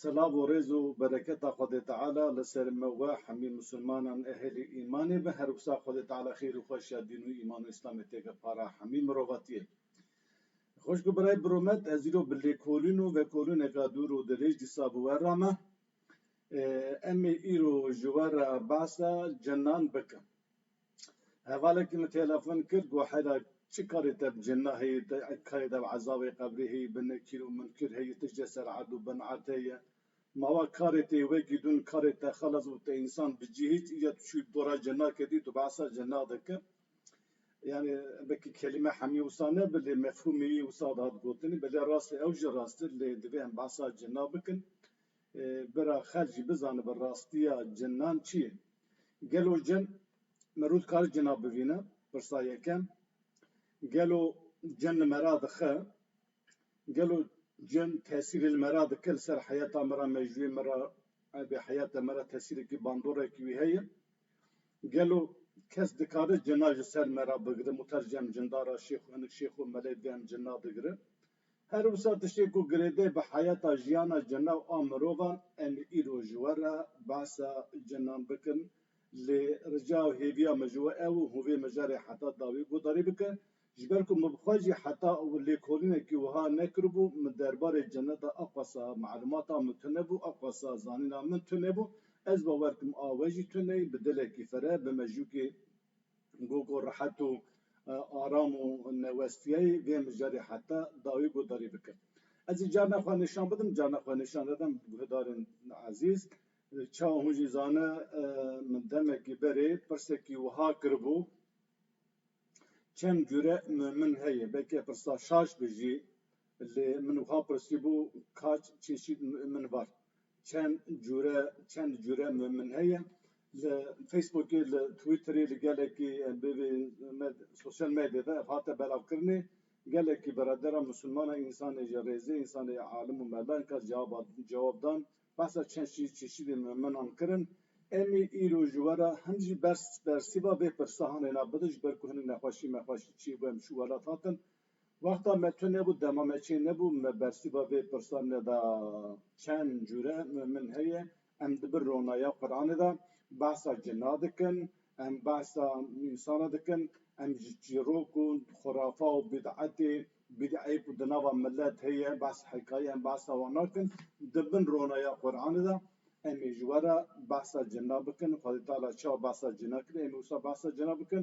Silav û rêz û bereketa Xwedê Teala li ser me we hemî Musulmanan ehlî îmanê be, her wisa Xwedê Teala xêr û xweşiya dîn û îman û îslamê têke para hemî mirovatiyê. Xweşk û birayê Biromet ez îro bi lêkolîn û vekolîneka dûr û dirêj dîsa bi we re me. Em ê îro ji we re behsa cinan bikin. Hevalekî min telefon kir got heyra çi karê te bi cinna heye te kayê te bi ezabê qebrê heye bi nekîr û minkir heye tişt jê ser erd û bin erd heye mawa karê te yê wekî dûn karê te xelas bû te însan bi cî hîç îya tu çûyî dora cinna kedî tu behsa cinna dikir yanî wekî kelîme hemî wisa ne bi lê mefhûmê wî wisa dihat gotinî belê rast e ew jî rast e lê divê em behsa cinna bikin bira xelk jî bizanibe rastiya cinnan çi ye. Gelo cem merû dikare cina bivîne? Pirsa yekem, gelo cem li me ra dixe? Gelo cem tesîrê li me ra dike li ser heyata me ra, mejûyê me ra, evê heyata me ra tesîrekî, bandorekî wî heye? Gelo kes dikare cina ji ser me ra bigire? Muter cem cindara şêx û hinek şêx û melê di em cina digire? Her wisa tiştê ku girêdayî bi heyata jiyana jinan a mirovan em ê îro ji we re behsa jinan bikin lê rica û hêviya min ji we ew hûn vê mijarê heta dawî guhdarî bike ji ber ku min bi xwe jî heta lêkolînekî wiha nekiribû min derbarê jinan de aqasa malûmata min tune bû aqasa zanîna min tune bû ez bawer dikim a we jî tune ye bi dilekî fere bi mejûkê Go ku rehet û aram û newestiyayî vê mijarê heta dawî guhdarî bike. Ez ê carna xwe nîşan bidim, carna xwe nîşan dedim guhdarên ezîz. Çawa hûn jî zane min demekî berê pirsekî wiha kiribû, çend cure min heye, belkî pirsa şaş be jî lê min wiha pirsîbû, kaç çeşîd min var? Çend cure çend cure min min heye li Facebookê li Twitterê li gelekî bêvê sosyal medyê de ev hate belavkirinê gelekî beradera misilmana însanê ji rêzê însanê alim û mela ka cevaba cewab dan behsa çend şî çeşîdê min minan kirin emî îro ji wera hin jî bers bersîva vê pirsa hanê na bidin ji ber ku hinî nexweşî mexweşî çî wem şû welat hatin Wexta me tu nebû dema me çê nebû me bersîva vê pirsa neda çend cûre min heye em di bin ronaya Quranê de behsa cinna dikin em behsa însana dikin em ji çîrok û xurafa û bîd'etê bîd'eyê ku di nava milet heye behs hekayê em behsa wan nakin di bin ronaya Quranê de em ê ji we re behsa cinna bikin Xwedê Teala çawa behsa cinna kiriye em ê wisa behsa cinna bikin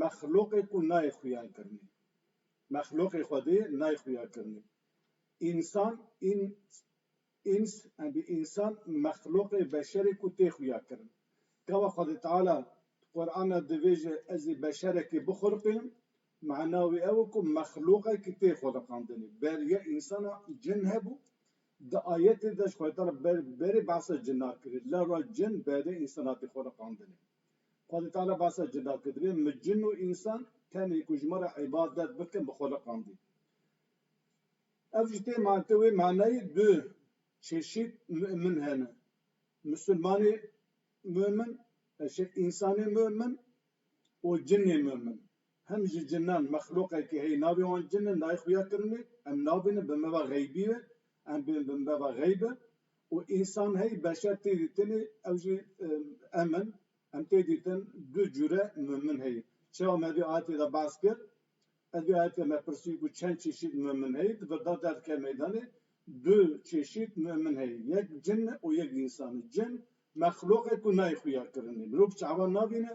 Mexluqê ku nayê xuya kirinê. Mexluqê Xwedê nayê xuya kirinê. Însan, ins, ins, embî însan mexluqê beşerê ku tê xuya kirin. Kawa Xwedê Teala di Qur'ana divêje ez ê beşerekê bixulqîm, mana wî ew e ku mexluqekî tê xuliqandinê. Ber ya însana cin hebû, di ayetê de jî Xwedê Teala berê behsa cinan kirî. Lewra cin berê însana tê xuliqandinê. Xwedî Teala behsa cuda kir, divê min cin û însan tenê ku ji min re îbadet bikin bi xwe liqandî. Ev jî tê mante wê manayê du çeşît mu'min hene, misilmanê mu'min, eşê însanê mu'min û cinê mu'min. Him ji cinan mexluqekî heye navê wan cin e nayê xuya kirinê, em nabînin bi meva xeybî ve, em bên bi meva xeyb e û însan heye beşer tê dî tenê ew jî em in, em tê dî tin du cure mumin heye. Çawa me vê ayetê de behs kir? Ez vê ayetê de me pirsî ku çend çeşît mumin heye? Di vir de derdikeve meydanê du çeşît mumin heye yek cin e û yek însan e. Cin mexluqek ku nayê xuya kirinê. Mirov çawa nabîne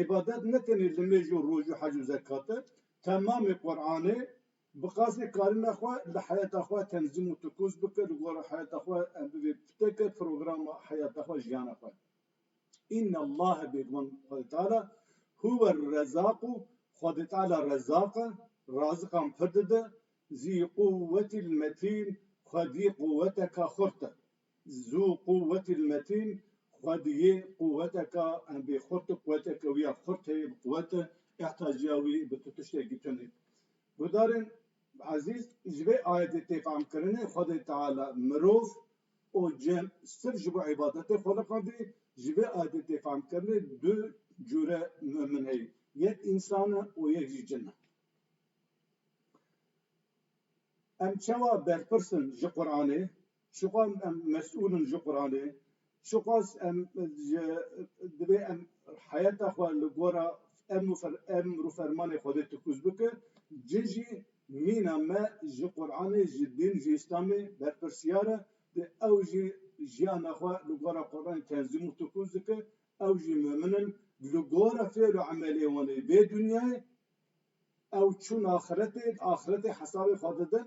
Îbadet ne tenê limêj û roj û hec û zekat e, temamê Quran e. Bi qasdê karina xwe li heyata xwe tenzîm û tikûz bike, li gora heyata xwe em bibê piteke programa heyata xwe, jiyana xwe. Înnallâhe bêguman Xwedê Teala huwerrezzâku, Xwedê Teala rezzaq e, raziqan pir dide, zî'l-quwwetil-metîn, Xwedî quwweteka xurt e. Zu quwet il metin xwe diyê quweteka bê xurt û quweteke wî ya xurt heye bi quwet e ihtaciya wî bi tu tiştekî tune. Guhdarên ezîz ji vê ayetê tê fehmkirinê Xwedê Teala mirov û cem sirf ji bo îbadetê xweliqandî. Ji vê ayetê tê fehmkirinê du cure mumin heye yek însan e û yek jî cin e. Em çawa berpirs in ji Quranê? Çiqas em mesûl in ji Quranê, çiqas em ji divê em heyata xwe li gora emr û fermanê Xwedê tikûz bikin, cih jî mîna me ji Quranê, ji dîn, ji Îslamê berpirsyar e. Dê ew jî jiyana xwe li gora Quranê tenzîm û tikûz dikin, ew jî mumin in. Li gora fêl û emelê wan ê vê dinyayê ew çûn axiretê, di axiretê hesabê xwe didin,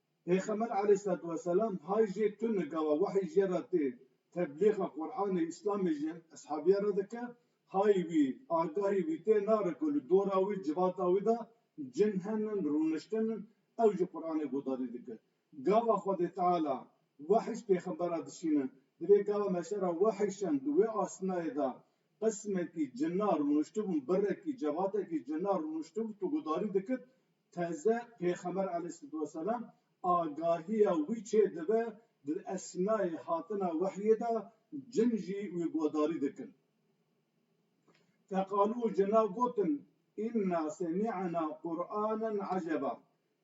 Pêxember aleyhîslatû weselam hay jê tune gawa wehî jê re tê, teblîxa Quranê Îslamê jî eshabîyan re dike, hay wî, agahî wî tê nare ku li dora wî, civata wî de cin henin, rûniştin in, ew jî Quranê guhdarî dike. Gava Xwedê Teala wehî ji pêxembera dişîne, divê gava meşera wehî şand di wê astinayê de qismekî cina rûniştibûn, birekî, cevatekî cina rûniştibû tu guhdarî dikit, Teze Pêxember aleyhisselatuwesselam agahiya wî çêdibe di esnayê hatina wehyê de cin jî wî guhdarî dikin. Feqalû cina gotin, Înna semî'na Qur'anen eceba,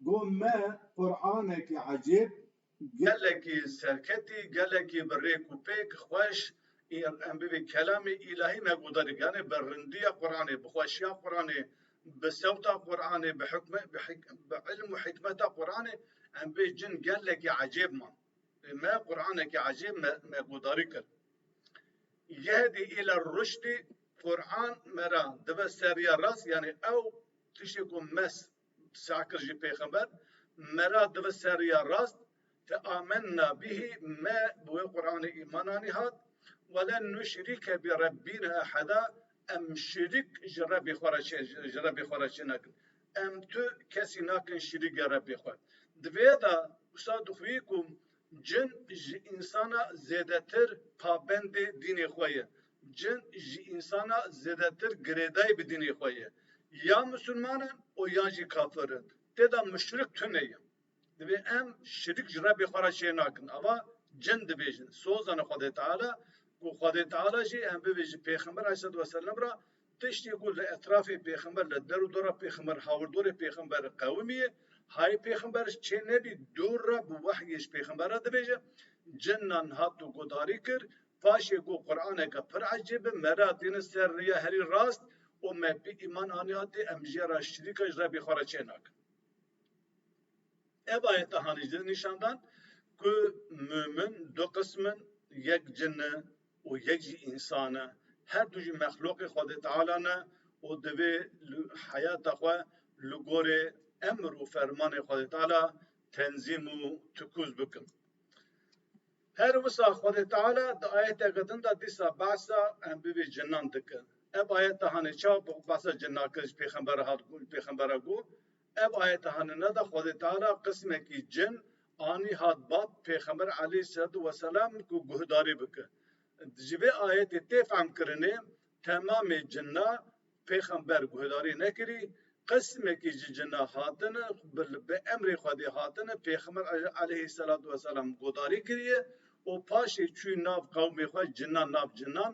Got me Qur'anekî ecêb Gelekî serketî, gelekî bi rêk û pêk, xweş, îr, em bivê kelamê îlahî ne guhda dike. Yanê bi rindiya Quranê, bi xweşiya Quranê, bi sewta Quranê, bi hikme, bi hik, bi ilm û hikmeta Quranê em bê cin gelekî ecêb man. Ê me Quranekî ecêb me me guhdarî kir. Yehedî île ruşdî, Quran me ra dibe seriya rast, yanê ew tiştê ku mes Sah kir jî pêxember, Me ra dibe seriya rast, te amenna bihî, me bi wê Quranê îman anî hat, Welen nuşrîke bi Rebbîna eheda, em şirîk ji Rebbê xwe re çê ji Rebbê xwe re çê nakin. Em tu kesî nakin şirîge Rebbê xwe. Di vê de wisa dixwî ku Cin ji însana zêdetir pabendê dînê xwe ye. Cin ji însana zêdetir girêdayî bi dînê xwe ye. Ya misilman in û ya jî kafir in. Tê de muşrik tune ye. Divê em şirik ji Rebbê xwe re çê nakin. Ava cin dibêjin. Soz dane Xwedê Teala ku Xwedê Teala jî em bibêjin pêxember aleyhîsselatu weselem re Tiştê ku li etrafê pêxember li der û dora pêxember hawirdorê pêxember qewimî ye, hayê pêxember ji çê nebî dûr re bi wehyê ji pêxember re dibêje, cinnan hato guhdarî kir, paşê ku quraneke pir ecêb bi me re hatîne ser riya herî rast û me pê îman anî hatê em jê re şirîka ji Rebê xwe re çê nakin. Ev ayete hanî ji nîşan dan ku mumin du qism in, yek cin e û yek jî însan e. Her du jî mexlûqê Xwedê Teala ne û divê li heyata xwe li gorî emr û fermanê Xwedê Teala tenzîm û tikûz bikin. Her wisa Xwedê Teala di ayeteke din de dîsa behsa em bivê cinan dike. Ev ayet de hanê çawa behsa cinan kir ji pêxembera hat pêxembera got, Ev ayet hanina de Xwedê Teala qismekî cin anî hat bat Pêxember aleyhîsselatu weselam ku guhdarî bike. Ji vê ayetê tê fehmkirinê temamê cinna Pêxember guhdarî nekirî, qismekî ji cinna hatine bi emrê Xwedê hatine Pêxember aleyhîsselatu weselam guhdarî kiriye û paşê çûye nav qewmê xwe cinnan nav cinnan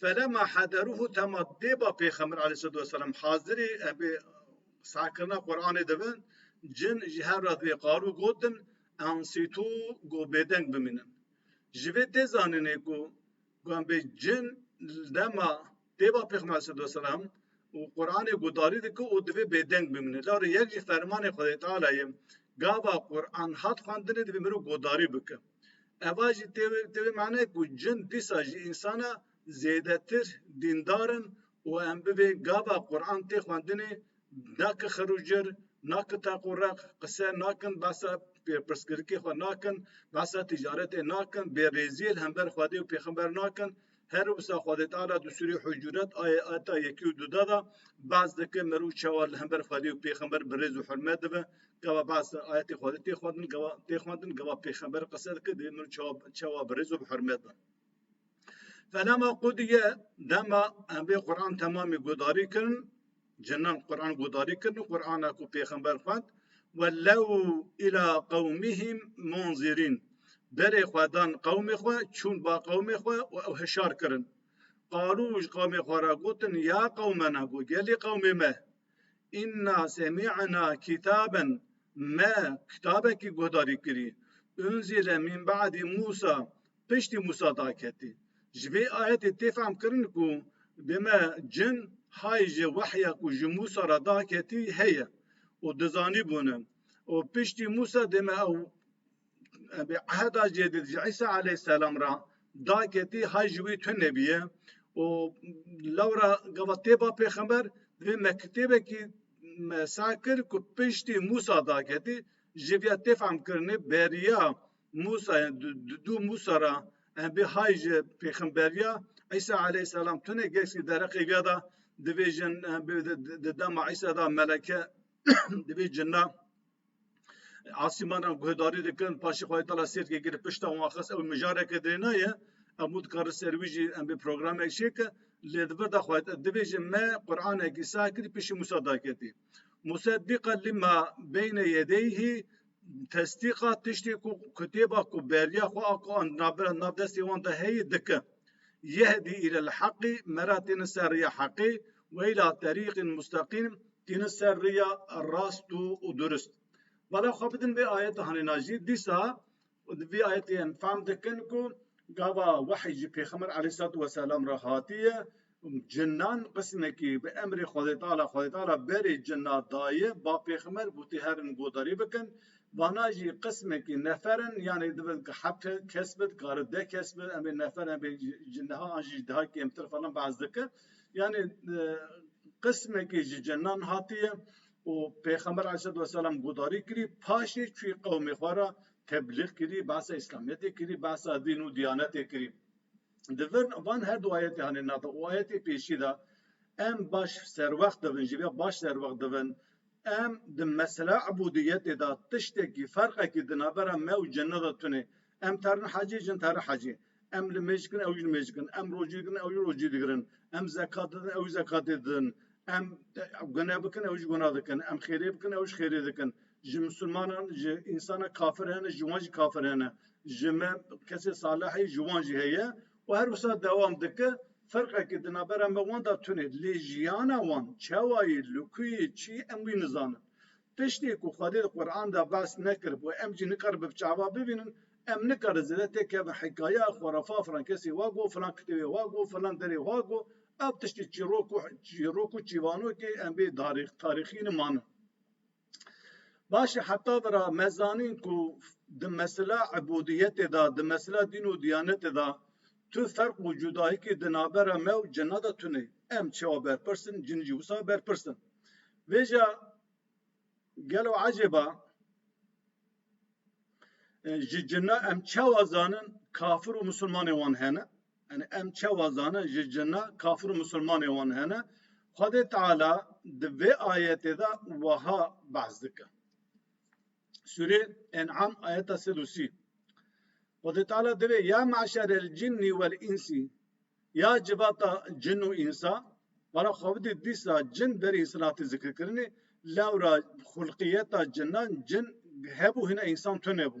Felema hederûhû tema dêba Pêxember aleyhîsselatu weselam hazirî ebê sarkirina Quranê de bin, cin ji hev re vê qarû gotin, Ensîtû ku bêdeng bimînin. Ji vê tê zanînê ku ku em bê cin li dema dêba Pêxember aleyhîsselatu weselam û Quranê guhdarî dike û divê bêdeng bimîne. Lewre yek jî fermanê Xwedayê Teala'yê gava Quran hat xwendinê divê mirov guhdarî bike. Eva jî tê wê tê wê manayê ku cin dîsa ji însana zêdetir dîndar in û em bi vê gava Quran tê xwendinê ne ki xir û cir, ne ki teq û req qise nakin, behsa pirsgirikê xwe nakin, behsa tîcaretê nakin, bêrêziyê li hember Xwedê û pêxember nakin. Her wisa xwedêtala du sûrê hucuret ayê eta yekî û duda da behs dike merûv çawa li hember Xwedê û pêxember bi rêz û hurmet dibe. Gava behs da ayetê Xwedê tê xwendin gava tê xwendin gava pêxember qise dike divê merûv çawa çawa bi rêz û bi hurmet be. Felama qûdî ye dema em vê Quran temamî guhdarî kirin Cinan Quran guhdarî kirin û Qurana ku pêxember xwend wellew îla qewmîhîm munzîrîn berê xwe dan qewmê xwe çûn ba qewmê xwe û ew hişar kirin. Qalû ji qewmê xwe re gotin ya qewmena ku gelê qewmê me înna semî'na kîtaben me kitabekî guhdarî kirî unzîle mîn be'dî Mûsa Piştî Mûsa daketî. Ji vê ayetê tê fehmkirin ku dime cin hay ji wehya ku ji Mûsa re daketî heye û dizanîbûne û piştî Mûsa dime ew bi eheda cêdîd ji Îsa aleyhîsselam re daketî hay ji wî tune bûye û lewra gava tê ba pêxember divê me kitêbekî me sar kir ku piştî Mûsa daketî ji vê ya tê fehmkirinê beriya Musa ya di du Musa ra em bê hay ji pêxemberiya Îsa aleyhisselam tune geştî dereqê vîya da divê jin em bê di dema Îsa da meleke divê cinna asîmanan guhdarî dikin paşê Xwedê Tala sêrkê girê pişta wan xist ew mijareke dirêna ye hemû dikarin ser wî jî em bê programek çêke lê di vir da xwe divê jî me Quranekî sahkirî pêşî Musa daketî Musa bîqa lîma beyne yedeyhî Tesdîqa tiştê ku kitêba ku beriya xwe a ku an nabira nav destê wan de heye dikin. Yehdî îlel heqî me re têne ser rêya heqê we îla terîqîn musteqîm têne ser rêya rast û durist. Bala xwe bidin vê ayeta hanêna jî dîsa di vê ayetê em fehm dikin ku gava wehî ji pêxember eleyhîsselatu weselam re hatiye Cinnan qismekî bi emrê Xwedêtala, Xwedêtala berê cinna daye, ba pêxmer bû tê herin godarî bikin. Vana jî qismekî nefer in, yanê divin ka heft kes bi, dikare deh kes bi, em ê nefer em ê ji niha an jî ji daha kêmtir falan behs dike. Yanê qismekî ji cinnan hatiye û pêxember aleyhîsselatu weselam godarî kirî, paşê çûyî qewmê xwe re teblîg kirî, behsa îslamiyetê kirî, behsa dîn û diyanetê kirî. Di vir van her du ayetê hane nava û ayetê pêşî de em baş serwext dibin, ji vê baş serwext dibin em di mesela ibûdiyetê de tiştekî ferqekî di navbera me û cinna de tune. Em terin hecê, jin terin hecê. Em limêj dikin, ew jî limêj dikin. Em rocî dikin, ew jî rocî digirin. Em zekat didin, ew jî zekatê didin. Em gune bikin, ew jî guna dikin. Em xêrê bikin, ew jî xêrê dikin. Ji misilmanan ji însana kafir hene, ji wan jî kafir hene. Ji me kesê salihê ji wan jî heye û her wisa dewam dike. Ferqekî di navbera me wan de tune lê jiyana wan çawa ye, li ku ye, çi ye em wî nizanin. Tiştê ku Xwedê di Qur'an de behs nekiribû em jî nikare bi çawa bibînin. Em nikare zêde tê kevin hikayeya xurafa filan kesê wa got, filan kitêbê wa got, filan derê wa got. Ev tiştê çîrok û çîrok û çîvanokê em bê tarîxî nimanin. Baş e heta vi ra me zanîn ku di mesela ibûdiyetê de, di mesela dîn û diyanetê de tu ferq û cudayîkî di navbera me û cina de tune. Em çawa berpirs in, cin jî wisa berpirs in. Vêja gelo ecêb e, ji cina em çawa zanin kafir û misilmanê wan hene? Yanî em çawa zanin ji cina kafir û misilmanê wan hene? Xwedê Teala di vê ayetê de wiha behs dike. Sûrê En'am ayeta sed û sî. Xwedê Teala divê ya me'şerel cinnî wel însî ya civata cin û însa wara xwe bidî dîsa cin berî silatê zikirkirinê lewra xulqiyeta cinan cin hebû hina însan tunebû.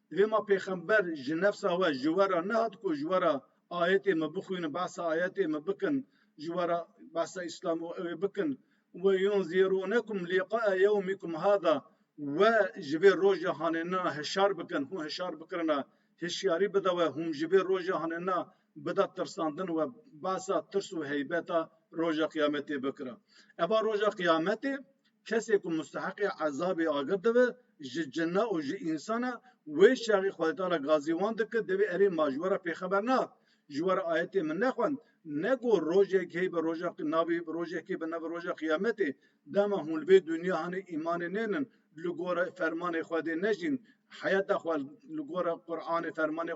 Divê ma pêxember ji nefsa we ji we re nehat ku ji we re ayetê me bixwînin, behsa ayetê me bikin, ji we re behsa îslam û ewê bikin. Weyunzîrûnekum lîqa'a yewmîkum hada, we ji vê roja hanêna hişyar bikin, hûn hişyar bikirine, hişyarî bide we, hûn ji vê roja hanêna bide tirsandin we behsa tirs û heybeta roja qiyametê bikire. Eva roja qiyametê Kesê ku musteheqê ezabê agir dibe ji cinna û ji însan e, wê şerî Xwedetala gazî wan dike, divê erê ma ji we re pêxeber na, ji we re ayetê min nexwend, ne ku rojek heye bi roja navê rojekê bi navê roja qiyametê, dema hûn li vê dinya hene îmanê nênin, li gora fermanê Xwedê nejîn, heyeta xwe li gora Quranê, fermanê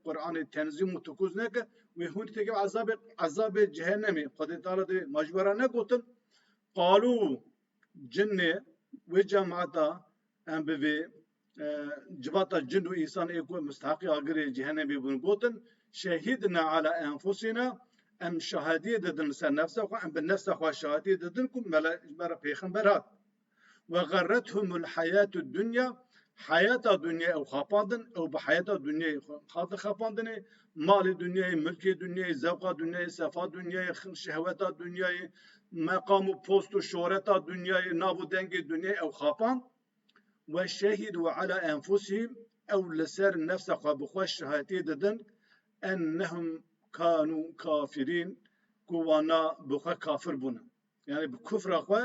Quranê tenzîm û tikûz neke, wê hûn dê têkeve ezabê ezabê cehenemê, Xwedetala divê ma ji we re negotin, Qalû cinnê wê cemata em bi vê civata cin û însan ê ku misteheqî agirê cehenemê bûn gotin, Şehîdna ala enfusina, em şahediyê didin li ser nefsa xwe, em bi nefsa xwe şahediyê didin ku me re ji me re pêxember hat. Ve xerrethumul hayatü dunya, hayata dunyayê ew xapandin, ew bi hayata dunyayê xwe hatin xapandinê, Malê dunyayê, milkê dunyayê, zevqa dunyayê, sefa dunyayê, şehweta dunyayê, meqam û post û şohreta dunyayê, nav û dengê dunyayê ew xapand. Ve şehîdû ala enfusihîm ew li ser nefsa xwe bi xwe şahitiyê didin ennehum kanû kafirîn ku wana bi xwe kafir bûne. Yanî bi kufra xwe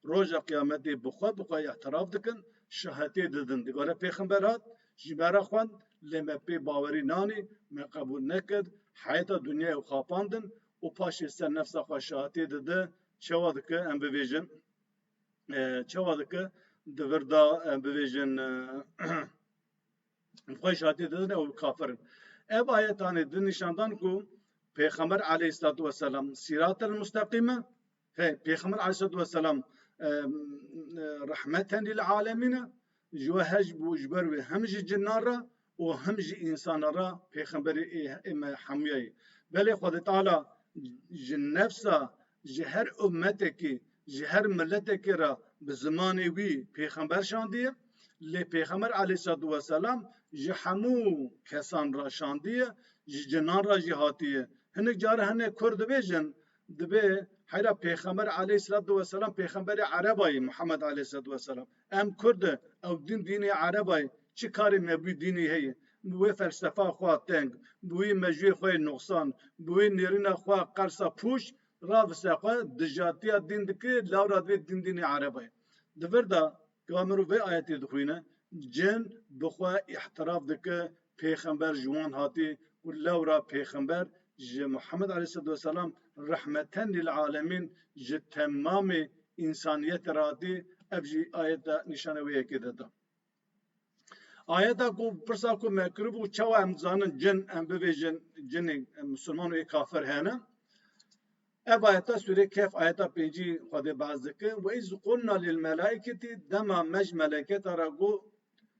roja qiyametê bi xwe bi xwe îhtiraf dikin, şahetê didin. Di gore pêxember hat, ji me re xwend, lê me pê bawerî nanî, me qebûl nekir, heyeta dinyayê û xapandin û paşê ser nefsa xwe şahetê didi, çawa diki em bibêjin, çawa diki di vir de em bibêjin, xwe jatê didin ew kafir in. Ev ayetanê di nîşan dan ku Pêxember aleyhîslatû weselam sîratel musteqîm e, he Pêxember aleyhîslatû weselam rehmeten lîl alemîn e, ji we hej bû ji ber wê hem ji cinan re û hem ji însanan re pêxemberê ê me hemûya yê. Belê Xwedê Teala ji nefsa Ji her ummetekî, ji her miletekî re bi zimanê wî pêxember şandiye. Lê pêxember aleyhîslatû weselam ji hemû kesan re şandiye, ji cinan re jî hatiye. Hinek caran hinek kurd dibêjin, dibê heyra pêxember aleyhîslatû weselam pêxemberê erebayî Muhammed aleyhîslatû weselam. Em kurd e, ew din dînê ereba ye. Çi karê me bi wî dînê heye? Bi wê felsefa xwe ya teng, bi wî mejûyê xwe yê nuqsan, bi wê nêrîna xwe ya qersa pûç ra vise xwe dijatiya dîn dike lawra divê din dînê ereba ye. Di vir de ka mirov vê ayetê dixwîne, cin bi xwe îhtiraf dike Pêxember ji wan hatî û lewra pêxember ji Muhammed aleyhisselatu weselam rehmeten lîlalemîn ji temamê însaniyetê re hatî ev jî ayeta nîşana wê yekê de da. Ayeta ku pirsa ku me kiribû çawa em dizanin cin em bibêjin cinê misilman û ê kafir hene. Ev ayeta sûrê Kehf ayeta pêncî Xwedê behs dike. Ve iz qulna lil melaiketi dema me ji meleketa re got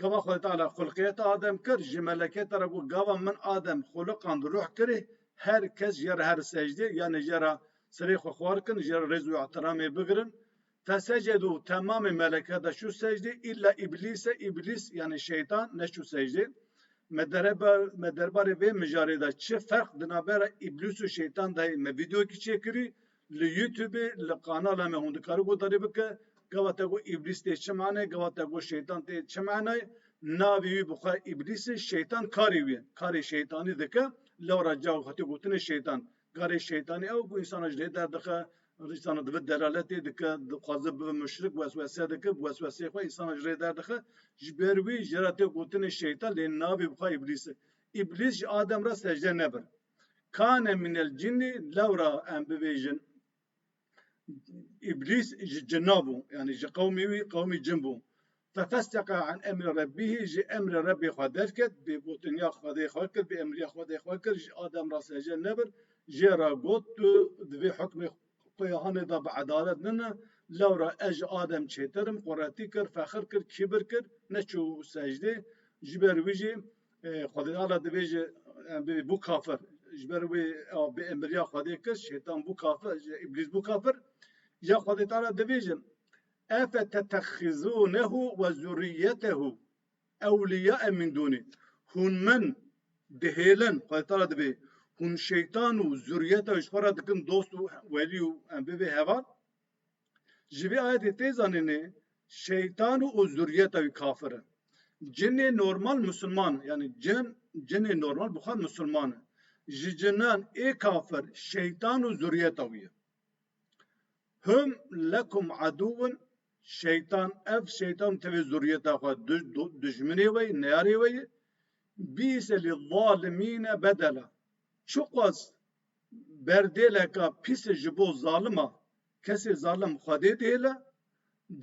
Gava Xwedê Teala xulqiyet Adem kir, ji melekê te re got, Gava min Adem xuliqand, ruh kirê, her kes jê re here secdê, yanê jê re sirê xwe xwar kin, jê re rêz û îhtiramê bigirin. Fesecedu, temamê meleke de çû secdê, îlla Îblîse, Îblîs, yanê Şeytan, neçû secdê. Me me derbarê vê mijarê de çi ferq di navbera Îblîs û Şeytan de heye, me vîdeoyekî çêkirî, Li Youtubê li kanala me hûn dikarî guhdarî bike. Gawa te got îblîs tê çi manayê? Gawa te got şeytan tê çi manayê? Navê wî bixwe îblîs e, şeytan karê wî ye. Karê şeytanî dike. Lewra caw xwetê gotinê şeytan. Karê şeytanî ew ku însanan ji lê derdixe, însanan dibe delaletê dike, dixwaze bibe muşrik, weswese dike, bi wesweseyê xwe însanan ji lê derdixe. Ji ber wî jê re tê gotinê şeytan lê navê bixwe îblîs e. Îblîs ji Adem re secde nebir. Kane min el cinni lewra em bibêjin Îblîs ji cinna bû yanî ji qewmê wî qewmê cin bû. Fefeseka an emri Rebbîhî ji emrê Rebbê xwe derket, bêgotinya Xwedê xwe kir, bêemriya Xwedê xwe kir, ji Adem re seje nebir, jê re got tu di vê hukmê Quyahanê de bi edalet nine, lewra ez ji Adem çêtir im, quretî kir, fexir kir, kîbir kir, neçû secdê, ji ber wî jî Xwedê Teala dibêje em bê bû kafir. Ji ber wê ew bi emriya Xwedê kir, şeytan bû kafir, îblîs bû kafir. Ya Xwedê Teala dibêje efetetexizunehu ve zurriyetehu ewliyae min duni. Hûn min dihêlin, Xwedê Teala dibê hûn şeytan û zurriyeta ji xwe re dikin dost û welî û em bê vê heval. Ji vê ayetê tê zanînê şeytan û zuriyeta wî kafir in. Cinê normal musulman in. Yanî cin cinê normal bi xwe re musulman in. Ji cinan ê kafir şeytan û zuriyeta wî ye. Hum lekum edûwun şeytan ev şeytan û tevê zuriyeta xwe dijminê we yê, neyarê we yê. Bîse lî zalimîne bedela. Çiqas Berdêleka pîs ji bo zalim a. Kesê zalim Xwedê dihêle,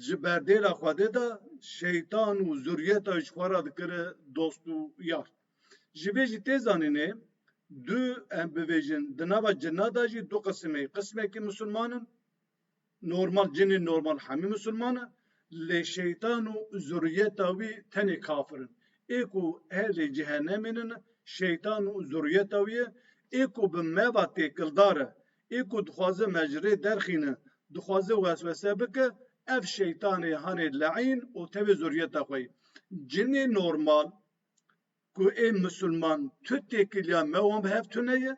ji berdêla Xwedê de şeytan û zurriyeta ji xwe re dikire dost û yar. Ji vê jî tê zanînê du em bivêjin di nava cina de jî du qisimê, qisimekî misilman in, Normal cinên normal hemî misilman e lê şeytan û zuriyeta wî tenê kafir in. Ê ku ehlê cehenemê ne ne şeytan û zuriyeta wî ye. Ê ku bi me ve têkildar e, ê ku dixwaze me ji rê derxîne, dixwaze weswese bike ev şeytanê hanê leîn û tevê zuriyeta xwe yê. Cinê normal Ku ê misilman tu têkiliya me wan bi hev tune ye,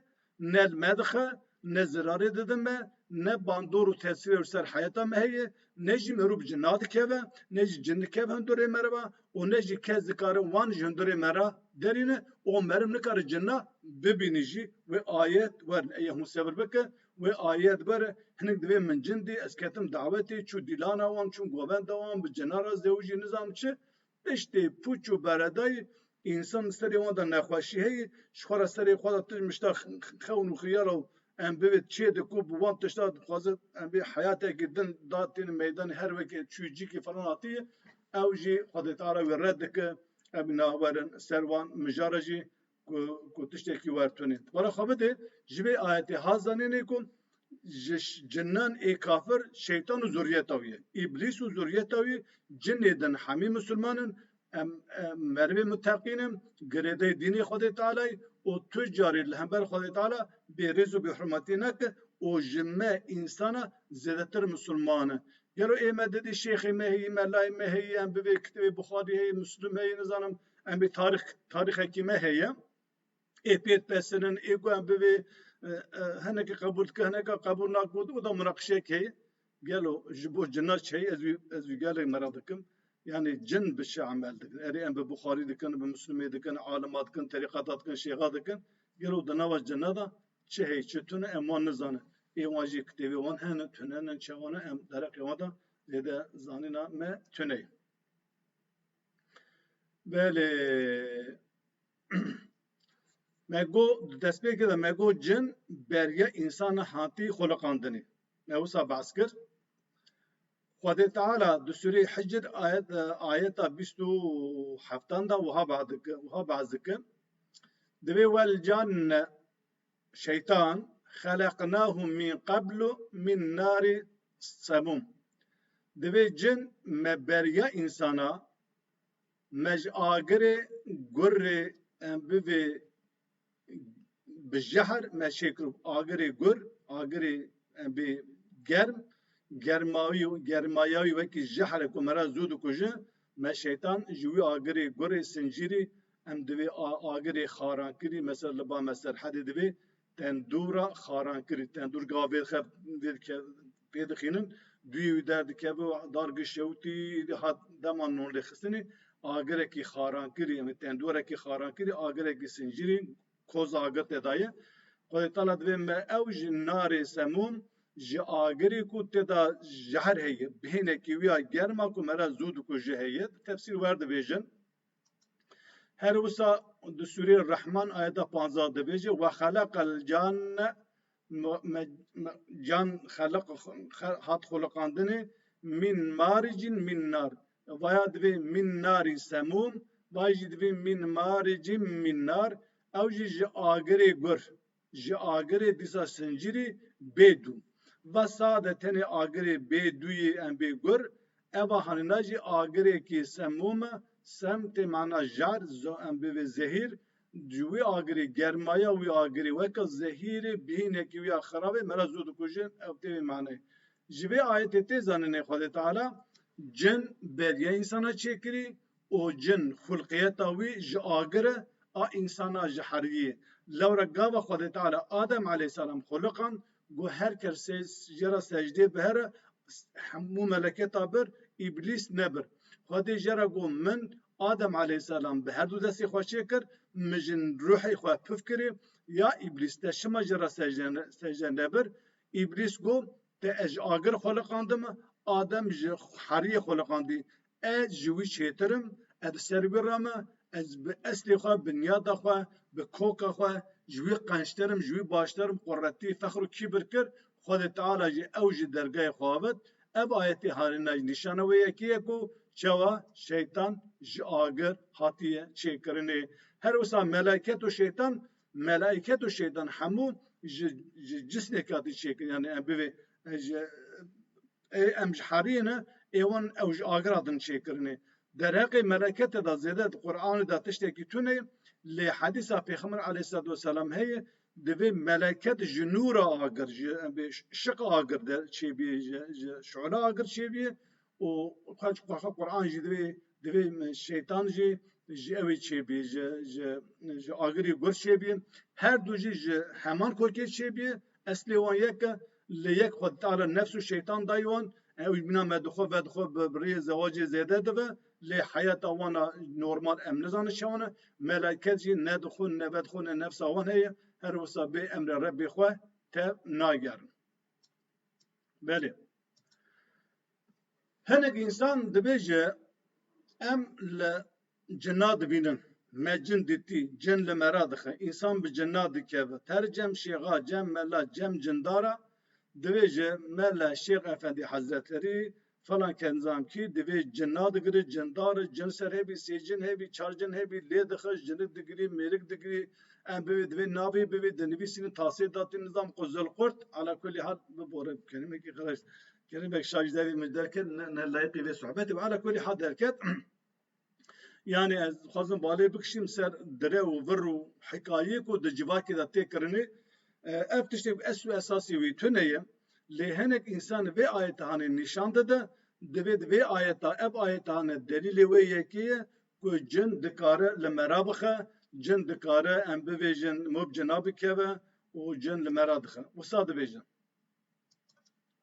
ne li me dixe, ne zirarê dide me, ne bandor û tesirê li ser heyata me heye, ne jî mirov bi cina dikeve, ne jî cin dikeve hundirê me re ve û ne jî kes dikare wan ji hundirê me re derîne û meriv nikare cina bibîne jî. Wê ayet werin. Eya hûn sebir bikin, wê ayet werin. Hinek divê min cin dî, ez ketim dawetê, çû dîlana wan, çûm govenda wan, bi cina re zewicî, nizanim çi. Piştî pûç û beredayî însan di serê wan de nexweşî heye, ji xwe re serê xwe de tişt mişta xewn û xiyala û em bivê çê de ku bi wan tişta dixwaze em bê heyatekî din da têne meydanê her wekê çûcikî falan hatiye ew jî xwedîtara wê red dike em nawerin ser wan mijara jî ku ku tiştekî wer tunê. Bala xwe bidê ji vê ayetê ha zanênê ku ji cinan ê kafir şeytan û zurriyeta wî ye. Îblîs û zurriyeta wî cinê din hemî musulman in, em merivê muteqîn in, girêdayî dînê Xwedê Tealayî û tu carî li hember Xwedê Teala bêrêz û bêhurmetî neke û ji me însanan zêdetir musulman in. Gelo ê me didî şêxê me heyî, melayê me heyî, em bi vê kitêbê Buxarî heyî, Muslim heyî, nizanim, Em ê tarîx tarîxekî me heye. Ê pêt pesinin, ê ku em bivê hineke qebûl dike, hineke qebûl nake û da munaqişeyek heye. Gelo ji bo cina çi heye ez wî ez wî gelek merak dikim. Yani cin bi çi emel dikin? Erê em bi Buxarî dikin, bi Mislûmê dikin, alima dikin, terîqeta dikin, şêxa dikin. Gelo di nava cina de çi heye, çi tune em wan nizanin. Ê wan jî kitêbê wan hene, tune ne, çawa ne em dereqê wan de zêde zanîna me tune ye. Belê me got di destpêkê de me got cin beriya însanan hatî xweliqandinê. Me wisa behs kir. Xwedê Teala di Sûreyê Hicr ayet ayeta bîst û heftan de wiha behs dikin wiha behs dikin. Divê welcan Şeytan, Xeleqnahum min qeblu min nari semum, Divê cin me beriya însana, me ji agirê gurrê em bivê bi jehr me şê kiribû, agirê gur, agirê em bê germ, germawî germaya wî wekî jehr e ku me re zû dikuje, me Şeytan ji wî agirê gurê sincîrî Em divê agirê xarankirî mesela li ba me serhedê divê tendûra xarankirî tendûr ga vê xev vê dike pê dixînin duyê wî derdikeve û dar giş şewtî hat dema non lê xistinê agirekî xarankirî em tendûrekî xarankirî agirekî sincirî koz agir te daye Xwedê tala divê me ew ji narê semûm ji agirê ku te da jehr heye bihênekî wî ya germa ku me ra zû dikuje heye tefsîr werdibêjin Her wisa di sûrê Rehman ayeta panzdeh de bêje we xeleqel cane me can xeleq hat xoliqandinê mîn marî cîn mîn nar vaya divê mîn narî semûm vay jî divê mîn marî cîn mîn nar ew jî ji agirê gur Ji agirê dîsa sincirî bê dû. Va sade tenê agirê bê dûyê em bê gur, eva hanina jî agirêkê semûm e, sem tê mana jar, zo em bê vê zehîr, ji wî agirê, germaya wî agirê weke zehîrê bîhînekî wî ya xirabê me re zo dikuje, ew tê vê manayê. Ji vê ayetê tê zanînê Xwedê Teala cin berîya însan e çêkirî û cin xulqiyeta wî ji agiri a însana ji heriyê. Lewra gava Xwedê Teala Adem aleyhîsselam xuliqand ku her kes jê re secdê bihere, hemû meleketa bir, îblîs nebir. Xwedê jê re got, Min, Adem aleyhîsselam, bi herdu destê xwe çêkir, mijin ruhê xwe pif kirê, ya îblîs te şima jê re secde nebir? Îblîs got, Te ez ji agir xuliqandime, Adem ji heriyê xuliqandî. Ez ji wî çêtir im, ez li ser wî re me, ez bi eslê xwe, bi niyada xwe, bi koka xwe ji wî qençtir im, ji wî baştir im, quretî, fexr û kîbir kir, Xwedê Teala jî ew ji dergayê xwe avêt. Ev ayetê Harîna jî nîşana wê yekê ye ku çawa Şeytan ji agir hatiye çêkirinê. Her wisa meleket û Şeytan Melayîket û şeytan hemû ji ji cisnê katî çêkirin yanî em bivê ji ê em ji herîyê ne ê wan ew ji agir hatin çêkirinê. Derheqê meleketê de zêde di Quranê de tiştekî tune ye lê hedîsa Pêxember aleyhîsselatu weselam heye divê meleket ji nûra agir ji em bivê şiq agir de çêbîyê ji ji şiûla agir çêbîyê û xwe ji xwe Quran jî divê divê şeytan jî ji ew ê çêbî ji ji ji agirê gur çêbî her du jî ji heman kokê çêbî eslê wan yek e lê yek xwe dîtala nefs û şeytan dayî wan ew jî bîna me dixwe ve dixwe bi rêyê zewacê zêde dive lê heyata wana normal em nizanin çawan e melaiket jî ne di xwe ne ve di xwe ne nefsa wan heye her wisa bê emrê Rebbê xwe tev nagerin. Belê. Hinek insan dibêje em li cinna dibînin. Me cin dîtî, cin li me re dixe, însan bi cinna dikeve. Ter cem şêxa, cem mela, cem cindara dibêje me li Şêx Efendî Hezreterî Falan kenzan kî divê cin nadigire, cindar e, cin ser hebî, sê cin hebî, çar cin hebî, lê dixe, jinik digirî, mêrik digirî, em bivê divê navê bivê, di nivîsînê tasê da tî nizam ku Zilqurt, ala kulî hal bibore bi kelimekî xiraş, kelimekî şaş ji devê min derket, ne ne layiqî vê sohbetê be, ala kulî hal derket. Yani ez dixwazim balê bikişîm ser dire û vir û hikayê ku di civakê de tê kirinê. Ev tiştê ku es û esasî wî tune ye. Lê hinek însan vê ayethanê nîşan dide, divê di vê ayeta ev ayethane delîlê wê yekê ye ku cin dikare li me re bixe, cin dikare em bivêjin mop cina bikeve û cin li me re dixe. Wisa dibêjin.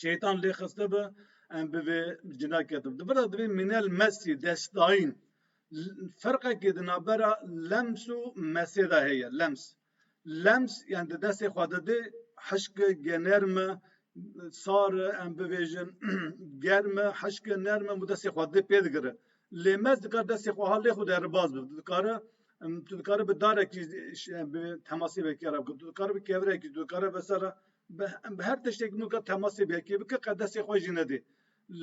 Şeytan lê xiste bi em bi vê cina ketim. Di vira divê Minel Mesî destayîn ferqekê di navbera lems û mesê de heye lems. Lems yan di destê xwe de dê hişke generme sar em bivêjin germe hişke nerme û destê xwe dê pê digire. Lê mes dikar destê xwe ha lê xwe de ribaz bi dikare tu dikare bi darekî temasî vekera tu dikare bi kevirekî tu dikare vesera Bi her tiştê ku nika temasê bi yekê bike qe destê xwe jî nedê.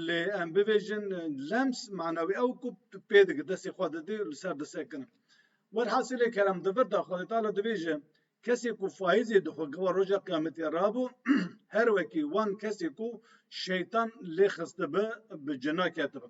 Lê em bibêjin lems mana wê ew ku pê dike destê xwe didê û li ser disekine. Werhasilê kerem di vir de Xwedê Teala dibêje, Kesê ku faîzê dixwe gava roja qiyametê rabû her wekî wan kesê ku şeytan lê xistibi bi cina ketibi.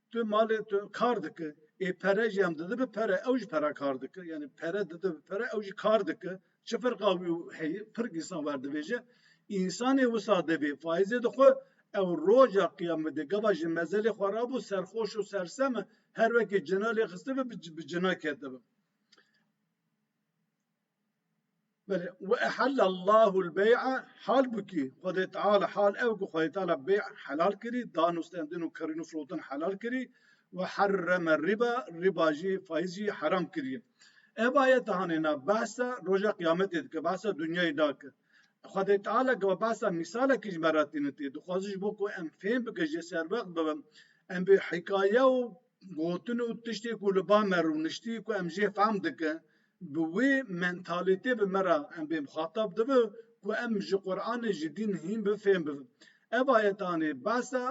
Tu malê tu kar dike, ê pere jî em dide bi pere, ew jî pera kar dike. Yanî pere dide bi pere, ew jî kar dike. Çi ferqa wî û heyî? Pirk însan werdivêje. Însanê wisa divê faîzê di xwe, ew roja qiyamê de gava ji mezelê xwe ra bû serxweş û sersem e, her wekî cina lê xistibe bi cina ketibe. Belê, we ehelle Allahul bey'a, hal bû kî Xwedê Teala, hal ew ku Xwedê Teala bey helal kirî, danûstendin û kirîn û firotin helal kirî, we herreme rîba, rîba jî, faiz jî heram kirî. Ev ayete hanê na behsa roja qîyametê dike, behsa dinyayê nake. Xwedê Teala gava behsa mîsalekî ji me re tîne tê, dixwaze ji bo ku em fêm bike, jê serwext bibe, em bi hîkaye û gotin û tiştê ku li ba me rûniştî ku em jê fehm dike, Bi wê mentalitê bi me re em bê muxatab dibi ku em ji Quranê ji dîn hîn bi fêm bibin. Ev ayetanê behsa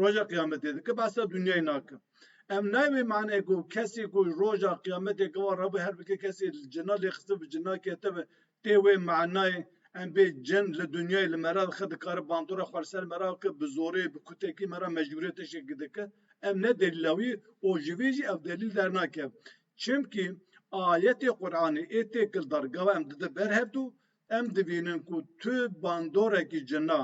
roja qiyametê dike behsa dunyayê nake. Em nayê wê maneyê ku kesê ku roja qiyametê gava re bi her bike kesê li cina lêxistin bi cina ketibe tê wê manayê em bê cin li dunyayê li me re dixe dikare bandora xwe li ser me re bike bi zorê bi kutekî me re mecbûriyetê şekî dike. Ev ne delîla wî û ji vê jî ev delîl dernakeve. Çimkî ayetê Quranê ê têkil dar gawa em dide ber hev du, em divînin ku tu bandorekî cina,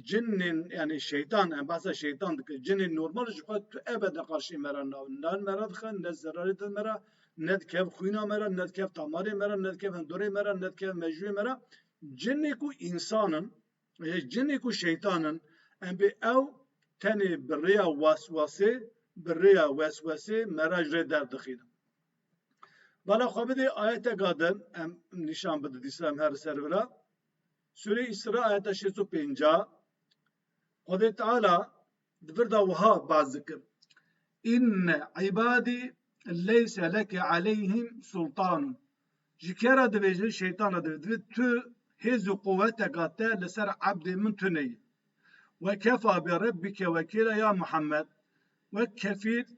cinên yanî şeytan, em behsa şeytan dikin, cinên normal ji xwe tu ebede qarşê me re nawe, ne me re dixe, ne zerarê dide me re, ne dikeve xwîna me re, ne dikeve tamarê me re, ne dikeve hindorê me re, ne dikeve mejûyê me re. Cinê ku însan in, Cinê ku şeytan in, em bê ew tenê bi rêya waswasê, bi rêya weswesê me re ji rê derdixînin. Bala xwe bidê ayeteka din em nîşan bidin dîsa em her li ser vira. Sûreyê Îsra ayeta şêst û pêncah Xwedê Teala Di vir de wiha baz dikir, Înne îbadî leyse leke aleyhîm sultanûn. Ji kê re dibêje? Şeytan re dibêje. Divê tu hêz û quweteka te li ser ebdên min tune ye. Ve kefa bi Rebbike wekîla ya Muhammed, wek kefîl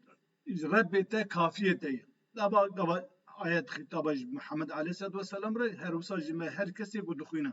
ji Rebbê te kafiyê te ye. Dava gava ayet xîtaba ji Muhammed aleyhisselatü vesselam re, her wisa ji me her kesê ku dixwîne.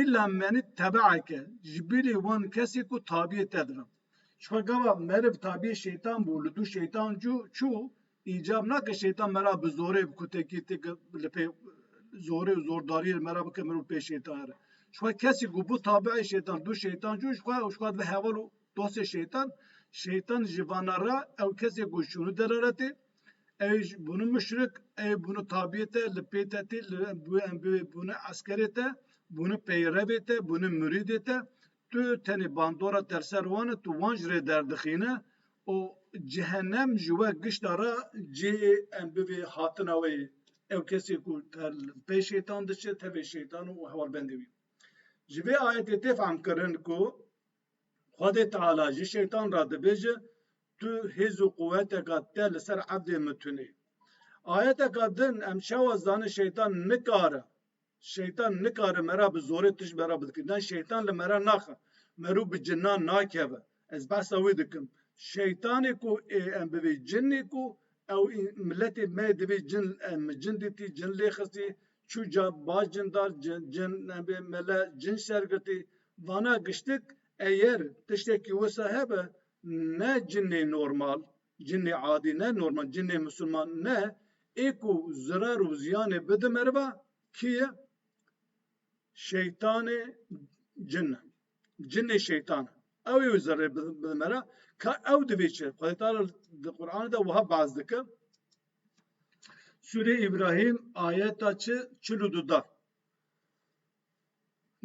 Îlla menî tebeeke ji bîrî wan kesî ku tabiyê te dibim. Jixwe gava meriv tabiyê şeytan bû, li dû şeytan cû çû, îcab nake şeytan me ra bi zorê bi kutekî ti ki li pê zorê û zordariyê li me ra bike mirov pê şeytayê re. Jixwe kesî ku bû tabieyê şeytan, li dû şeytan cû jixwe û jixwe dibe heval û dostê şeytan, şeytan ji vana ra ew kesê ku şûnû dere re tê, Ewê jî bûne muşrik, ewê bûne tabiyê te li pê te tê, li ewê bûne eskerê te, bûne peyrevê te, bûne murîdê te. Tu tenê bandora te li ser wan e, tu wan ji rê derdixîne û cehenem ji we gişta re cihê em bivê hatina wê ye. Ew kesê ku pey şeytan diçe tevê şeytan û hevalbendê wî. Ji vê ayetê tê fehmkirin ku Xwedê Teala ji Şeytan re dibêje, Tu hêz û quweteka te li ser evdê min tunê. Ayeteka din em çawa dizanin Şeytan nikare Şeytan nikare me re bi zorê tişt me re bidike. Ne Şeytan li me re naxe. Merû bi cinan nakeve. Ez behsa wî dikim. Şeytanê ku ê em bivî cinê ku ew miletê me yê divî cin em cin dîtî, cin lê xistî, Çû ca baş cindar, cin, cin, nebê, mele, cin şergirtî, vana giştik eyer tiştekî wisa hebe ne cinê normal, cinê adî ne normal, cinê misilman ne, ê ku zirar û ziyanê bidi meriva kî ye? Şeytanê cin e. Cinê şeytan e. Ew ê wî zerrê bidi mera. Ka ew divê çi? Xwedê Teala di Qur'anê de wiha behs dike. Sûrê Îbrahîm ayeta çi çil û du da.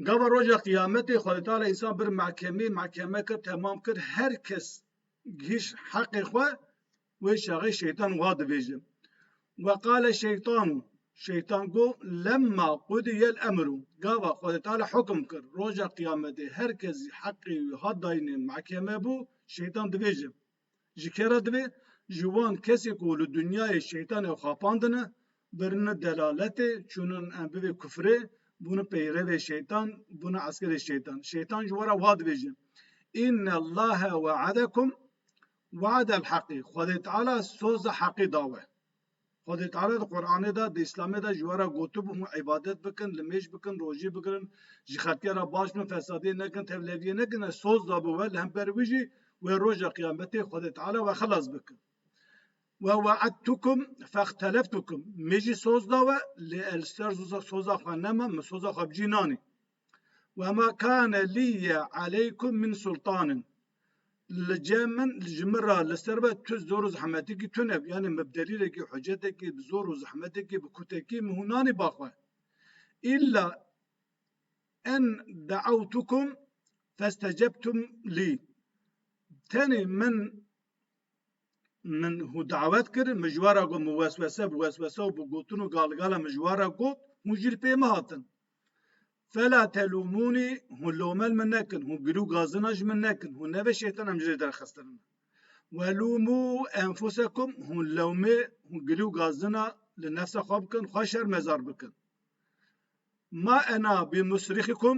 Gava roja qîyametê Xwedê Teala însan bir mehkemê mehkeme kir temam kir her kes gihîş heqê xwe wê çaxê şeytan wa dibêje. Ve qale şeytanu şeytan go lemma qudiyel emru gava Xwedê Teala hukm kir roja qîyametê her kes heqê wî hat dayînê mehkeme bû şeytan dibêje. Ji kê re divê? Ji wan kesê ku li dinyayê şeytanê xapandine, birine delaletê, çûnine bivê kufrê, bûne peyrevê şeytan, bûne eskerê şeytan. Şeytan ji we re wa dibêje, Înnellâhe we'edekum we'edel heqî, Xwedê Teala soza heqî da we. Xwedê Teala di Quranê de, di Îslamê de ji we re gotibû hûn îbadet bikin, nimêj bikin, rojî bigirin, ji xelkê re baş bin, fesadiyê nekin, tevleviyê nekin, ez soz dabû we, li hember wî jî wê roja qiyametê Xwedê Teala we xelas bike. Ve we'edtukum fexteleftukum, min jî soz da we, lê li ser soza xwe neme, min soza xwe bi cî nanî. Ve ma kane lîye aleykum min sultanin. Li cem min li ji min ra li ser ve tu zor û zehmetekî tune yanê min bi delîlekî hucetekî bi zor û zehmetekî bi kutekî min hûn nanî ba xwe. Îlla en de'ewtukum festecebtum lî. Tenê min min hû dawet kir, mijwara got min weswese bi weswese û bi gotin û galgala mijwara got, hûn jî li pê min hatin. Fela telûmûnî hûn lomel min nekin, hûn girî û gazina ji min nekin, hûn nebe şêtan em ji rê derxistirine. Welûmû enfusekum, hûn lewmê, hûn girî û gazina li nefsa xwe bikin, xwe şermezar bikin. Ma ena bi musrixîkum,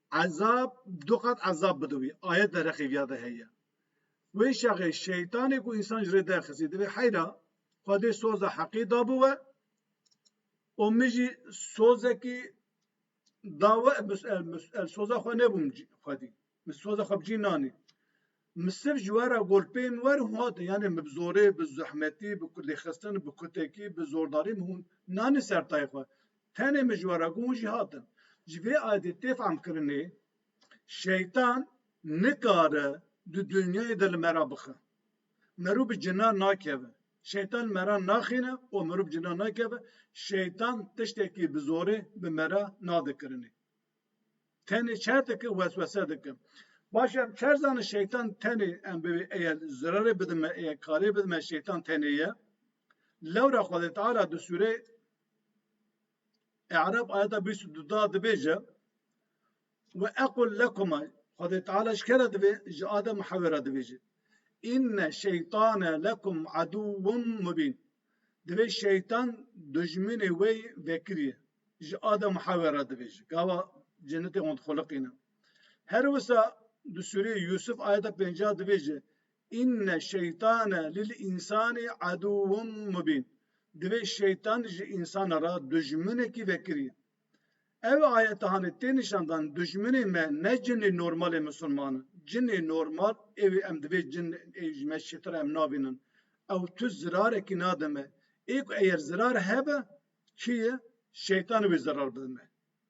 Ezab, du qat ezab bide wî. Ayet dereqê viya de heye. Wê şexê şeytanê ku însan ji rê derxisî divê heyra Xwedê soza heqî da bi we û min jî sozekî da we, min soza xwe nebûm Xwedî. Min soza xwe bi cî nanî. Misir ji we re golpeyên werin hate, yanê min bi zorê, bi zehmetî, bi lêxistin, bi kutekî, bi zordarî min hûn nanî ser tayê xwe. Tenê min ji we re ku hûn jî hatin. Ji vê adê tê fehmkirinê şeytan nikare di dinyayê de li me re bixe. Mirov bi cina nakeve. Şeytan li me re naxîne û mirov bi cina nakeve. Şeytan tiştekî bi zorê bi me re nade kirinê. Tenê çer dikim, weswese dikim. Baş e em çer zanin şeytan tenê em bivê eye zirarê bidin me, eye karê bidin me şeytan tenê ye. Lewra Xwedê Teala di sûrê E'rab ayeta bîst û du da dibêje ve equl lekuma Xwedê Teala ji ke re divê ji Adem û Hewê re dibêje. Înne şeytane lekum edûwun mubîn. Divê şeytan dijminê wê vekirî ye. Ji Adem û Hewê re dibêje, gava cennetê wan dixuliqîne. Her wisa di sûreyê Yûsuf ayeta pêncî a dibêje, Înne şeytane lil însanî edûwun mubîn, divê şeytan ji însanê re dijminekî vekirî ye. Ev ayetanê tê nîşandan dijminê me ne cinê normalê misilman in. Cinê normal ê wê em divê cin ê ji me çêtir em nabînin. Ew tu zirarekî nade me. Ê ku eger zirar hebe Kî ye? Şeytanê wê zerar bide me.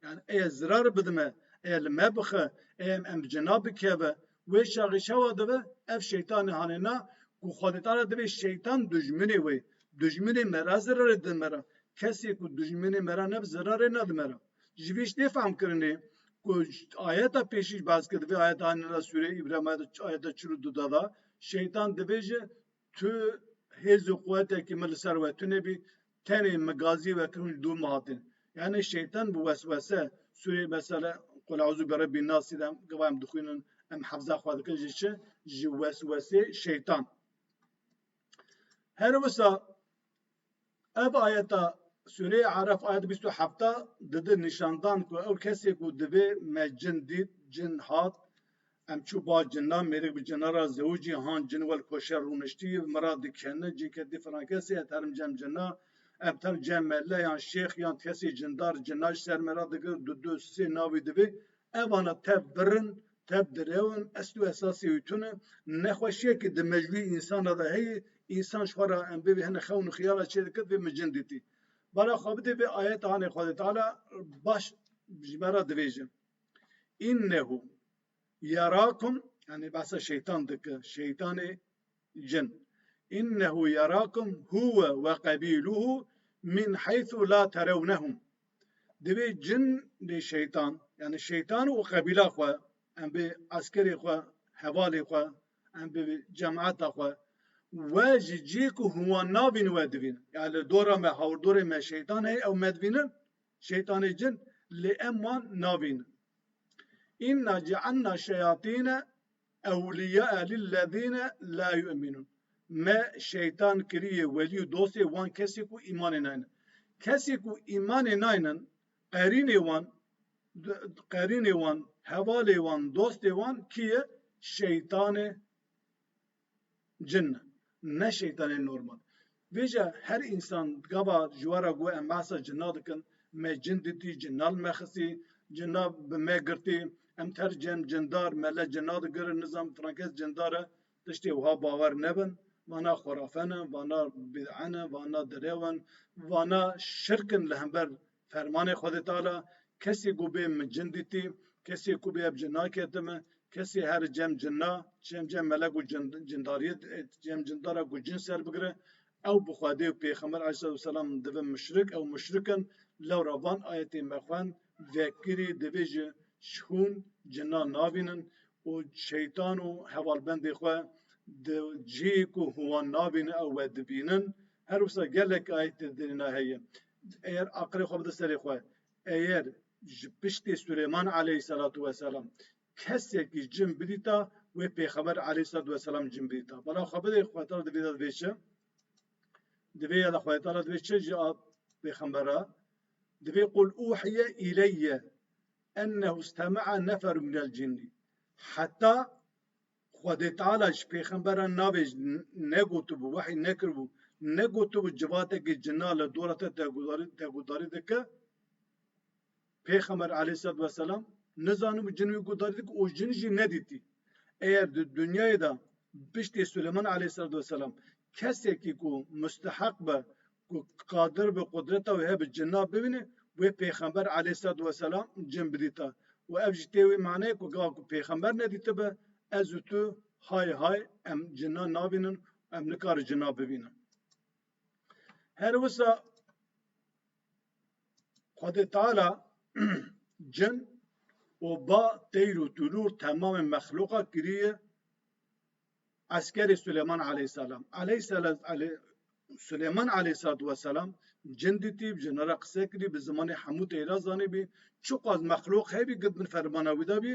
Yanî eye zirarê bide me, eye li me bixe, eye em bi cina bikeve, wê şaxê çawa dibe? Ev şeytanê hanêna ku xwedîtara divê şeytan dijminê wê, dijminê me re zirarê dide me re. Kesê ku dijminê me re nebe zirarê nede me re. Ji vî ştê fehm kirinê ku ayeta pêşî jî behs kir di vê ayeta hanêna sûreya Îbrahîma de ayeta çil û du de da şeytan dibêje Tu hêz û quwetekî min li ser we tune bî, tenê min gazî we kirin û li dû min hatin. Yanî şeytan bi weswese sûrê mesela Kul eûzû bi Rebbîn Nasî de gava em dixwînin, em hefza xwe dikin ji çi? Ji weswesê şeytan. Her wisa Ev ayeta Sûreyê Araf ayet bîst û heft dide nîşandan ku ew kesê ku divê me cin dît, cin hat, em çû ba cina, mêrik bi cina re zewicî han, cin wel koşer rûniştî, min re dikene, cinke dî filan kesê ez terim cem cina, em terim cem mele yan şêx yan kesê cindar cina ji ser min re digir, didu, sê navî divê Evana tev bir in, tev direw in, esl û esasê wî tun e. Nexweşiyekî di mejbûyê însana de heye, însan ji xwe re em bê vê hene xewn û xiyala çê dikir vê min cin dîtî. Bala xwe bidê vê ayeta hanê Xwedê Teala baş ji me re dibêje, Înnehu yerakum, yanî behsa şeytan dike, şeytanê, Cin. Înnehu yerakum huwe ve qebîluhu min heythu la terewnehum. Divê cin lê şeytan, yanî şeytan û qebîla xwe, em bi eskerê xwe, hevalê xwe, em bi cemaeta xwe, we ji cihê ku hûn wan navînin we divînin. Yanî li dora me, hawirdorê me şeytan heye, ew me divînin, şeytanê cin, lê em wan navînin. Înna cealna şeyatîne Ewlîyaa lillezîne la yu'minûn Me şeytan kiriye welî û dostê wan kesên ku îmanê naynin. Kesên ku îmanê naynin qerînê wan, qerînê wan, hevalê wan, dostê wan kî ye? Şeytan e. Cin ne. Ne şeytanê normal. Vêca her însan gava ji we re got em behsa cinna dikin, me cin dîtî, cinna li me xistî, cinna bi me girtî, em tercî em cindar, mele cinna digirin, nizam filan kes cindar e, tiştê wiha bawer nebin. Vana xurafe ne, vana bîd'e ne, vana derew in, vana şirk in li hember Fermanê Xwedê Teala, Kesê ku bê min cin dîtî, kesê ku bê ev cinna kete min, kesê here cem cinna, cem cem melek û cindariyê cem cindara ku cin ser bigire, ew bi Xwedê û Pêxember aleyhisselatuwesselam dibe muşrik, ew muşrik in, lewra van ayetê me xwend, vekirî divê ji hûn cinna navînin û şeytan û hevalbendê xwe di cihê ku hûn wan navînin ew wedibînin, her wisa gelek ayet li derîna heye. Eyer aqilê xwe bide serê xwe, eyer ji piştê Suleyman aleyhîselatu weselam kesekî cin bidîta wê pêxember aleyhîselatu weselam cin bidîta. Bala xwe bidê Xwedê Tala divê de divê çi? Di vê ya de Xwedê Tala divê çi ji pêxember re? Divê qul uhiye îleyye ennehu stem'a neferun minel cinni. Heta Xwedê Teala ji pêxemberan navê ji ne gotibû, wehî nekiribû, ne gotibû civatekî cina li dora te guhdarî dike, pêxember aleyhîsselatu weselam nizanibû cin wî guhdarî dike û jin jî nedîtî. Eger di dinyayê de piştî Sileyman aleyhîsselatu weselam kesekî ku musteheq be ku Qadir bi qudreta wê hev bi cinna bibîne, wê pêxember aleyhîsselatu weselam cin bidîta û ev jî tê wê maneyê ku gava ku pêxember nedîtibe ez û tu hay hay em cinna nabînin û em nikare cinna bibînin. Her wisa Xwedê Teala cin û ba, teyr û tûlûr temamê mexluqa kiriye Eskerê Suleyman aleyhîsselam Suleyman aleyhîsselatuwesselam cin dîtî, bi jinan re qise kirî, bi zimanê hemû tê re zanîbî, çiqas mexlûq hebî girt min fermana wî dabî.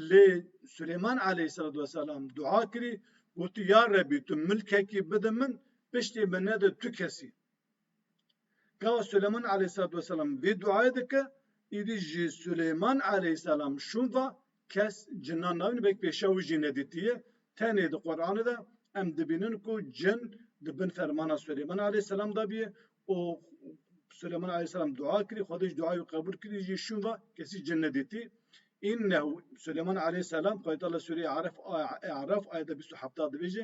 Lê Suleyman aleyhîsselatuwesselam dua kirî, gotî ya Rebî tu milkekî bide min, piştê min nede tu kes î. Ka Suleman aleyhîssalatu weselam vê duayê dike, îdî jî Suleyman aleyhîssalam şûn va, Kes cinan nabîne belkî pêşiya wî jî nedîtiye. Tenê di Quranê de em dibînin ku cin di bin fermana Suleyman aleyhîssalam de bûye û Suleyman aleyhîssalam dua kirî, Xwedê jî duayê wî qebûl kirî, jî şûn va, Kesî cin nedîtî. Înnehu Suleyman aleyhîssalam, Xwedê Teala li Sûreyê Araf, E'raf, ayet bîst û heft dibêje,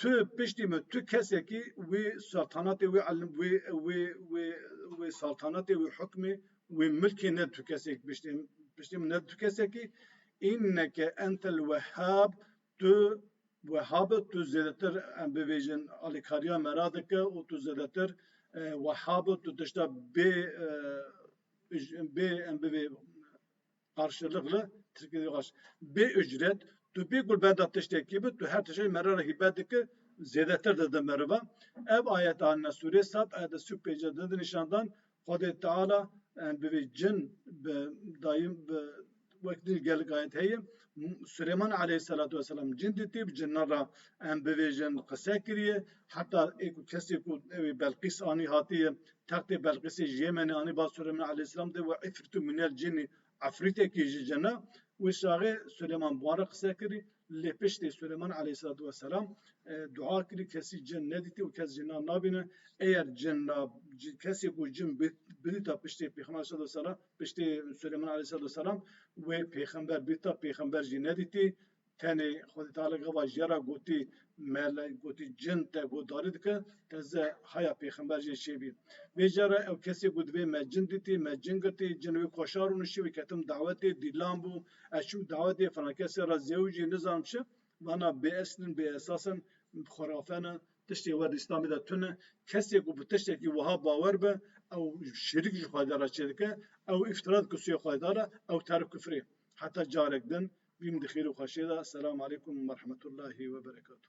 Tu piştî min, tu kesekî wê saltanatê, wê elm, wê wê wê wê saltanatê, wê hukmê, wê milkê ne tu kesekî piştê min, piştê min ne tu kesekî. Înneke entel wehhab, tu wehhab î, tu zêdetir em bibêjin alîkariya me re dike û tu zêdetir wehhab î, tu tişta bê bê em bivê, Qarşılıklı, Tirkî dî qaş, bê ucret, tu bê ku li ber de tiştekî bi, tu her tiştekî mere re hîbet dikir, zêdetir dide meriva. Ev ayet anîne sûreyê Sab a di sî û pêncî de di nîşan dan Xwedê Teala bi vê cin, bi dayî, bi wek din jî gelek ayet heye. Suleyman aleyhîsselatu wesselam cin dîtî, bi cinan re bivêjin qise kiriye. Heta ê ku kesê ku ew ê Belqîs anî hatiye Textê Belqîsê ji Yêmenê anî ba Suleyman Aleyhîslam de û îfrîtu minel cinî, efrîtekî ji cin e, wê şaxê Suleyman bi wan re qise kirî, lê piştî Suleyman Aleyhîselatu weselam dua kirî kesî cin nedîtî û kes jinan nabîne, eyer cin na kesê ku cin bidîta piştî Pêxember Aleyhîselatu weselam piştî Suleyman Aleyhîselatu weselam wê pêxember bidîta pêxember jî nedîtî. Tenê xwe di talê gava jê re gotî mele, gotî cin te guhdarî dike, te ze haya pêxember jê çêbî. Vê jê re ew kesê ku divê me cin dîtî, me cin girtî, cin wê koşar û nişî wê ketim dawetê, dîlan bû, ez çûm dawetê filan kesê re zêw jî nizanim çi, vana bê esil in, bê esas in, xurafe ne, tiştê wer di Îslamê de tune, kesê ku bi tiştekî wiha bawer be, ew şirîk ji Xwedê re çêdike, ew îftira dike sûyê Xwedê re, ew terif kufrê. Heta carek din, bîm di xêr û xweşê de. Selam aleykum u merhametûllahî weberekatû.